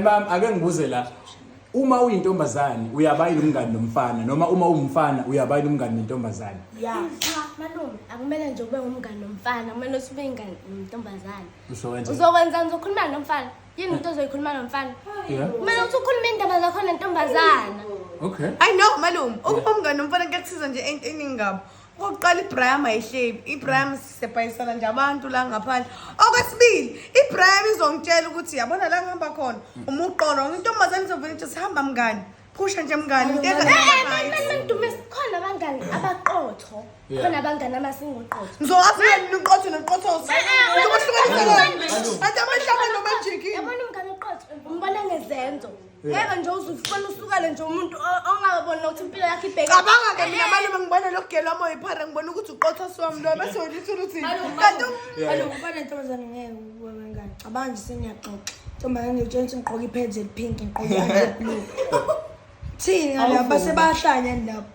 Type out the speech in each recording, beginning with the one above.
Mama ake ngibuze la. Uma uyintombazane uyabayini umngani nomfana noma uma umfana uyabayini umngani nentombazane? Yeah. Cha malume akumele nje ube umngani nomfana kumele ube ingani nentombazane. Uzokwenza. Uzokwenza ngizokhuluma nomfana. Yini into ozoyikhuluma nomfana? Yeah. Kumele uthi ukhuluma indaba zakho nentombazana. Okay. I know malume. Ukubomngane nomfana kuyakuthiza nje eningi ngabo. okokuqala ibraham ayihlebi ibraham sisebhayisana nje abantu la ngaphandle okwesibili ibraham izongitshela ukuthi yabona la ngihamba khona uma uqolo intombazane izovele ithi sihamba mngani phusha nje mngani into enga- mandume khona abangani abaqotho Yeah. khona abangani amasingoqotho ngizokwazi yini niqotho noqothoso Ah, ah, ngizobahlukanisa ah, ah, kanti amehla abantu abajikile yabona umngani oqotho umbona ngezenzo ngeke nje uzufuna usukele nje umuntu ongaboni nokuthi impilo yakhe ibheke cabanga ke mina malume ngibona lo gelo wami oyiphara ngibona ukuthi uqotha siwami lo bese ulithi ukuthi kanti malume ubona ntombazane ngeke uwe wengane cabanga nje sengiyaxoxa ntombazane ngitshengisa ngigqoka iphedzi elipink ngigqoka iblue thini ngala base bayahlanya lapho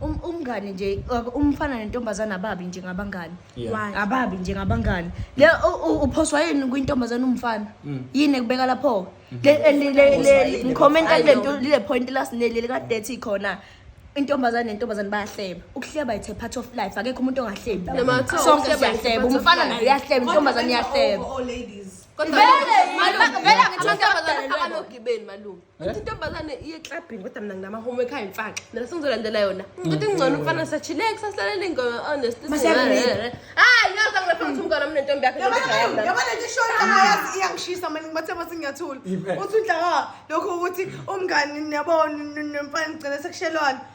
Um- umngane nje uh, umfana nentombazane ababi njengabangani Yeah. Why? ababi njengabangani le u- u- uphoswa yini kwintombazane umfana Mm. yini ekubeka lapho Le- eh, le- le- Uphoswa le- yini? ngikhomenta I kule know. nto- lile point last neli likadethi khona intombazane nentombazane bayahleba ukuhleba it's a part of life akekho umuntu ongahlebi la. Noma kuthiwa sonke ukuhleba is a siyahleba part of umfana life. naye uyahleba intombazane iyahleba Kodwa Vele, manje- vele angithi amantombazane amantombazane abanogibeni malume Kodwa intombazane iye clubbing kodwa mina nginama homework hayi mfaka. Mina sengizolandela yona. Ngithi ngcono umfana sachilex sasilale ingoma honest. Masiyabuleka. Hayi yazi angilapha ngithi umngane mina nentombi yakhe. Yabona yabona nje short ayazi iyangishisa manje ngibathe bathi ngiyathula. Ibe. Uthi udlaka lokho ukuthi umngani niyabona nomfana ngicela sekushelwana.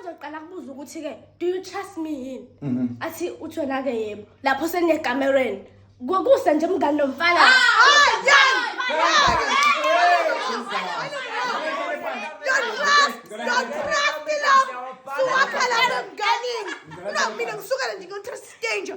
uzoqala kubuza ukuthi-ke do you trust me yini mhm. athi uthi wena-ke yebo lapho seniyekamereni kuse nje mngani nomfana mina ngisukele nje ngiyotrust stranger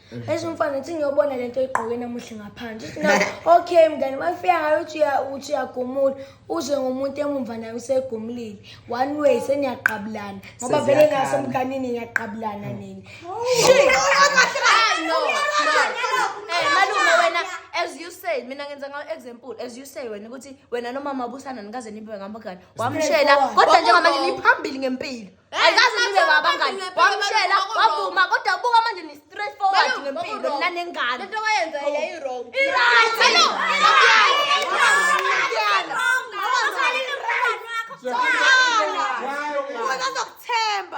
esho umfana uthi ngiyobona le nto oyigqoke namuhle ngaphandle uthi na okay mngane mafika ngayo uthi uya- uthi uyagumula uze ngomuntu emumva naye usegumulile one way seniyaqabulana ngoba vele Seziyakhala. ngasomganini ngiyaqabulana nini Eh, malume wena as you say mina ngenza ngayo example as you say wena ukuthi wena nomama busana nikaze nibe ngamagani wamshela kodwa njengamanje niphambili ngempilo ayikazi nibe babangani wamshela wavuma kodwa buka manje ni straight forward ngempilo mina nengane lento wayenza yayi wrong right hello uzokuthemba uzokuthemba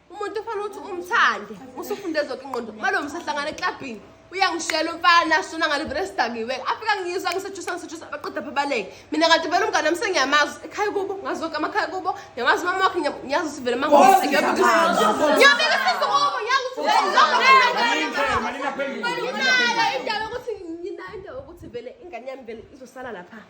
umuntu ufanele ukuthi umthande usufunde zonke ingqondo uma lo msahlangana eklabhini uyangishela umfana shona ngale vele sidakiwe afika ngiyizwa ngisejusa ngisejusa baqeda pha baleke mina kanti vele umngane wami sengiyamazi ekhaya kubo ngazi zonke amakhaya kubo ngiyamazi umama wakhe ngiya- ngiyazi ukuthi vele mangiyobika isizo kubo ngiyazi ukuthi Malina phendula. nginayo indawo yokuthi nginayo indawo yokuthi vele ingane yami vele izosala lapha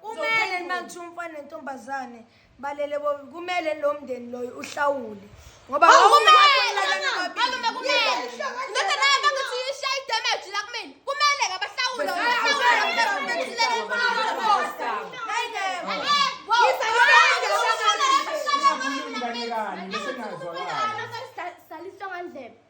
kumele uma kuthiwa umfana nentombazane balele kumele lo mndeni loyo uhlawule ngoba